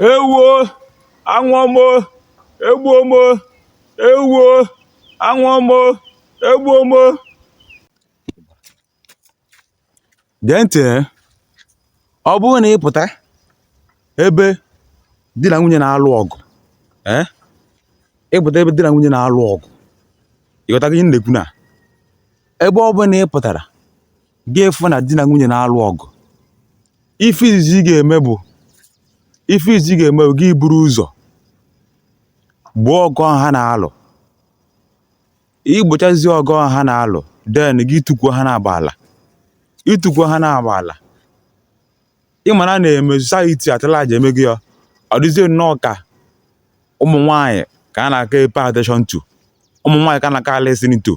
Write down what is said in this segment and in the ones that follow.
ewoo anwụọ m o egbuo m o ewoo anwụọ m o egbuo m o gee ntị eh. ọ bụrụ na ị pụta ebe di na nwunye na-alụ ọgụ ee eh, ị pụta ebe di na nwunye na-alụ ọgụ ị ghọtago ihe m na-ekwu na ebe ọ bụla ị pụtara gị fụ na di na nwunye na-alụ ọgụ ife izizi ị ga-eme bụ ife izizi ị ga-eme bụ gị buru ụzọ gboo ọgụ ahụ ha na-alụ ị gbochazie ọgụ ahụ ha na-alụ then gị tukwuo ha n'abụọ ala ị tukwuo ha n'abụọ ala ị ma na n'ime society at large emego ya ọ dịzie nnọọ ka ụmụ nwaanyị ka a na-aka epay attention to ụmụ nwaanyị ka a na-aka elisten to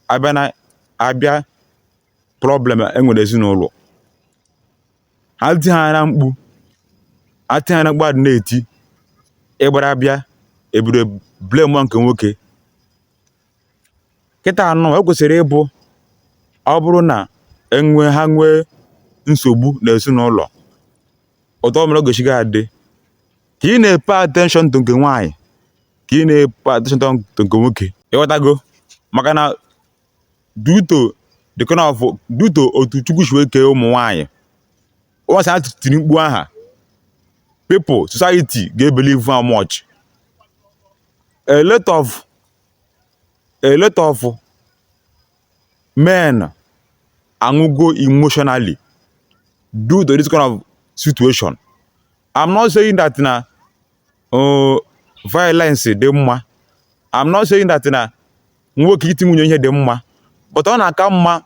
a bịa na a bịa problem e nwere ezinụlọ ha tihana mkpu ha tihana mkpu adị na-eti ị gbara bịa ebido blamewa nke nwoke kịtanụ e kwesịrị ịbụ ọ bụrụ na enwe ha nwee nsogbu na ezinụlọ otu ọ mere ọ gaghị adị ka ị na-epay attention to nke nwaanyị ka ị na-epay attention to nke nwoke ị ghọtago maka na due to the kind of due to otu chukwu si wee kee ụmụ nwaanyị once ha tiri mkpu aha people society ga-ebelieve ha much a lot of a lot of men anwụgo emotionally due to this kind of situation i'm not saying that na uh, violence dị mma i'm not saying that na nwoke iti nwunye ihe dị mma but ọ na-aka mma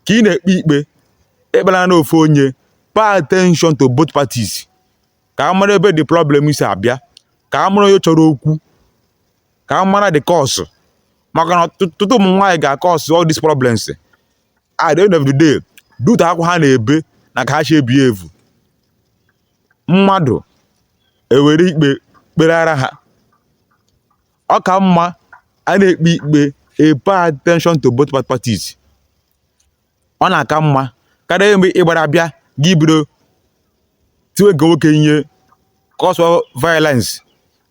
ka ị na-ekpe ikpe ekpela na ofu onye pay attention to both parties ka a mara ebe the problem si abịa ka a mara onye chọrọ okwu ka a mara the cause maka na ọtụtụ ụmụ nwaanyị ga-acause all these problems at the end of the day due to akwa ha na-ebe na ka ha si ebehave mmadụ ewere ikpe kpeara ha ọ ka mma a na-ekpe ikpe a pay attention to both parties ọ na-aka mma karịa mgbe ị gbara bịa gị bido tiwe nke nwoke ihe cause of violence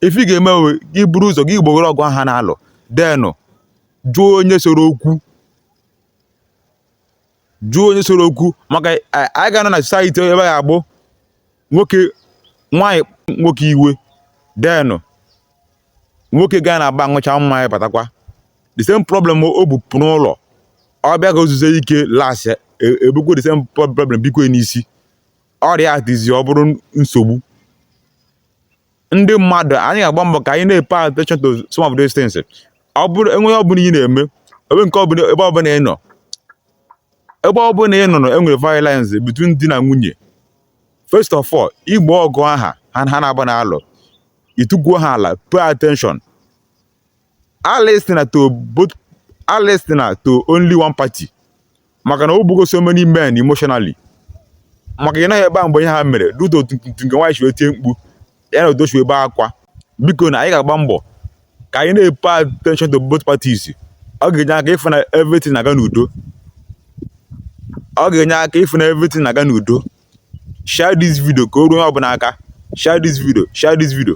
ife ị ga-eme bụ gị buru ụzọ gị gbogoro ọgụ ahụ ha na-alụ then jụọ onye chọrọ okwu jụọ onye chọrọ okwu maka a- anyị ga-anọ na society ebe a ga-abụ nwoke nwaanyị nwoke iwe then nwoke gaa na bar ṅụcha mmanya batakwa the same problem o bu pụọ n'ụlọ ọ bịa ka o zuo ike las ebukwe the same problem bikwe n'isi ọrịa a dịzi ọ bụrụ nsogbu ndị mmadụ anyị ga-agba mbọ ka anyị na-epe attention to some of these things ọ bụrụ enweghị ọ bụla ị na-eme ebe nke ọbụla ebe ọbụla ị nọ ebe ọbụla ị nọ na enwere violence between di na nwunye first of all i gboo ọgụ ahụ ha naabọ na-alụ i tukwuo ha ala pay attention a listening to both a listening to only one party maka na o gbugo so many men emotionally maka ị nọghị ebe a mgbe ihe ahụ mere tutu nke nwaanyị si wee tie mkpu ya nọdụ si ebe akwa bikonụ anyị ga-agba mbọ ka anyị na-epe attention to both parties ọ ga-enye aka ịfụ na everything na-aga n'udo ọ ga-enye aka ịfụ na everything na-aga n'udo share this video ka o ruo onye ọbụla aka share this video share this video